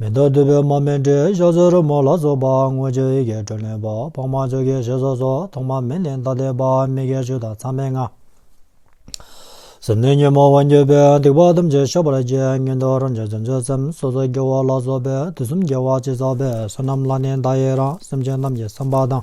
མེ་ཏོག་དུད་པའི་མར་མེ་འབྲས་གཤོག་རྩེ་རོལ་མོ་ལ་སོགས་པ་མངོན་སྤྱོད་ཡི་གེ་དྲོད་ལེན་པ་འཕགས་མ་ཆོས་ཀྱི་ཞལ་སོགས་སོགས་ཐོག་མ་མེད་ལས་ཐ་དད་པ་མི་དགེ་བཅུ་དང་མཚམས་མེད་ལྔ། ཟུར་སྣོད་ཉོན་མོངས་བ་འགྱོད་པའི་སྡིག་པ་ཐམས་ཅད་ཞོགས་པར་བཅད་ངན་འགྲོ་རང་བྱུང་བྱང་ཆུབ་སེམས་སོ་སོ་སྐྱེ་བོ་ལ་སོགས་པའི་དུས་གསུམ་རྒྱལ་བ་སྤྱི་གཙུག་པའི་བསོད་ནམས་ལ་ནི་བརྡ་ཡི་རང་སེམས་ཅན་རྣམས་ཀྱི་བསམ་པ་དང།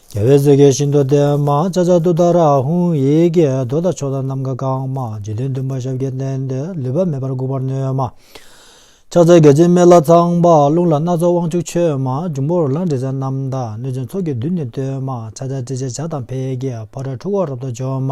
རྒྱལ་བའི་གཟིགས་ཀྱི་ཤིན་ཏུ་བརྟན་མ་ལྕགས་ལྕགས་དུ་དར་ཧཱུྃ་ཡིག་གིས་རྡོ་དང་ཕྱོགས་དང་ནམ་མཁའ་གང་མ་འཇིག་རྟེན་བདུན་པ་ཞབས་ཀྱིས་བསྟན་ཏེ་ལུས་པ་མེད་པར་འགུགས་པར་ནུས་མ། ཕྱག་འཚལ་བརྒྱ་བྱིན་མཎྜལ་ཚངས་པ་རླུང་ལ་སྣ་ཚོགས་དབང་ཕྱུག་མཆོད་མ་འབྱུང་པོ་རོ་ལངས་དྲི་ཟའི་རྣམ་དག་གནོད་སྦྱིན་ཚོགས་ཀྱི་བདུད་ནི་བཏོན་མ་ཕྱག་ཆ་སྤྲིན་ཆེན་བྱ་དང་འཕེལ་གྱི་ཕོ་བྲང་ཁྲུ་བོ་རབ་ཏུ་བྱོན་མ།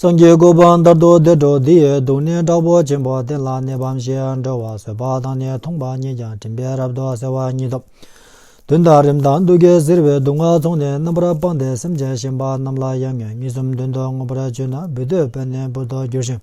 སངས་རྒྱས་སྐུ་བར་འདར་དུ་བདེ་འགྲོ་འདི་ཡི་སྡུག་བསྔལ་དྲག་པོ་ཆེན་པོ་གཏན་ལ་གནས་པའམ་ཞེས་འགྲོ་བ་བཟོད་པ་དང་ནི་ཐོངས་པ་གཉིས་ཀྱང་དྲན་པས་རབ་ཏུ་གསལ་བ་ཉིད་དོ། དུས་མཐའ་རིམ་དང་སྡུག་བསྐལ་གཟིར་བའི་སྡུག་བསྔལ་ཚོགས་ནི་རྣམ་པར་སྤངས་ཏེ་སེམས་ཅན་གཞན་པ་རྣམས་ལ་ཡང་ངན་སྨྲིས་གསུམ་དོན་དུ་མངོན་པར་སྤྱོད་ན་སྦུ་སྟོད་པས་ནི་འབུར་དུ་འགྱུར་ཞིང།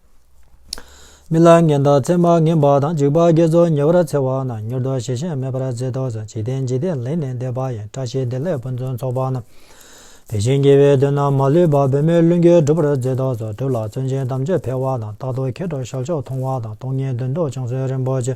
མི་ལ་ངན་དང་མཚན་མར་ངན་པ་དང་འཇིགས་པ་བརྒྱ་རྫོགས་ཉེ་བར་འཚལ་བ་ན་མྱུར་དུ་ཞལ་ཆེམས་མེད་པར་མཛད་དོ་ཟེར་འཇིག་རྟེན་འཇིག་རྟེན་ལེགས་ནས་འདས་པ་ཡང་བཀྲ་ཤིས་བདེ་ལེགས་ཕུན་ཚོགས་ཚོགས་པ་ན། དེ་བཞིན་དགེ་བའི་དོན་རྣམས་མ་ལུས་པ་བོད་མིའི་བླུན་རྒྱུད་འགྲུབ་པར་མཛད་དོ་ཟེར་གྲུབ་ལ་བརྩོན་ཆེན་དམ་ཆོས་འཕེལ་བ་དང་རྟག་ཏུ་མཁས་གྲུབ་ཞབས་མཆོག་མཐོང་བ་དང་སྟོང་ཉིད་དོན་རྟོགས་བྱང་བསོད་རིན་པོ་ཆེ།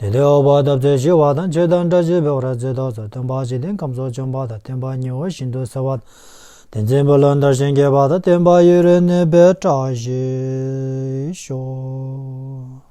དེ་ལྟའི་འོག་བར་འདབ་རྩེར་ཞི་བ་དང་བཅས་དང་སྒྲ་བྱས་པའི་འོག་ར་རྩེ་ཐོག་ཚོགས་སྟོན་པ་འཇིག་རྟེན་ཁམས་སོགས་བྱོན་པ་དང་བསྟན་པ་ཉི་འོད་བཞིན་དུ་གསལ་བ། དེ་འཛིན་བུ་ལོན་དར་ཞིང་རྒྱས་པ་དང་བསྟན་པ་ཡུན་རིང་གནས་པའི་བཀྲ་ཤིས་ཤོག།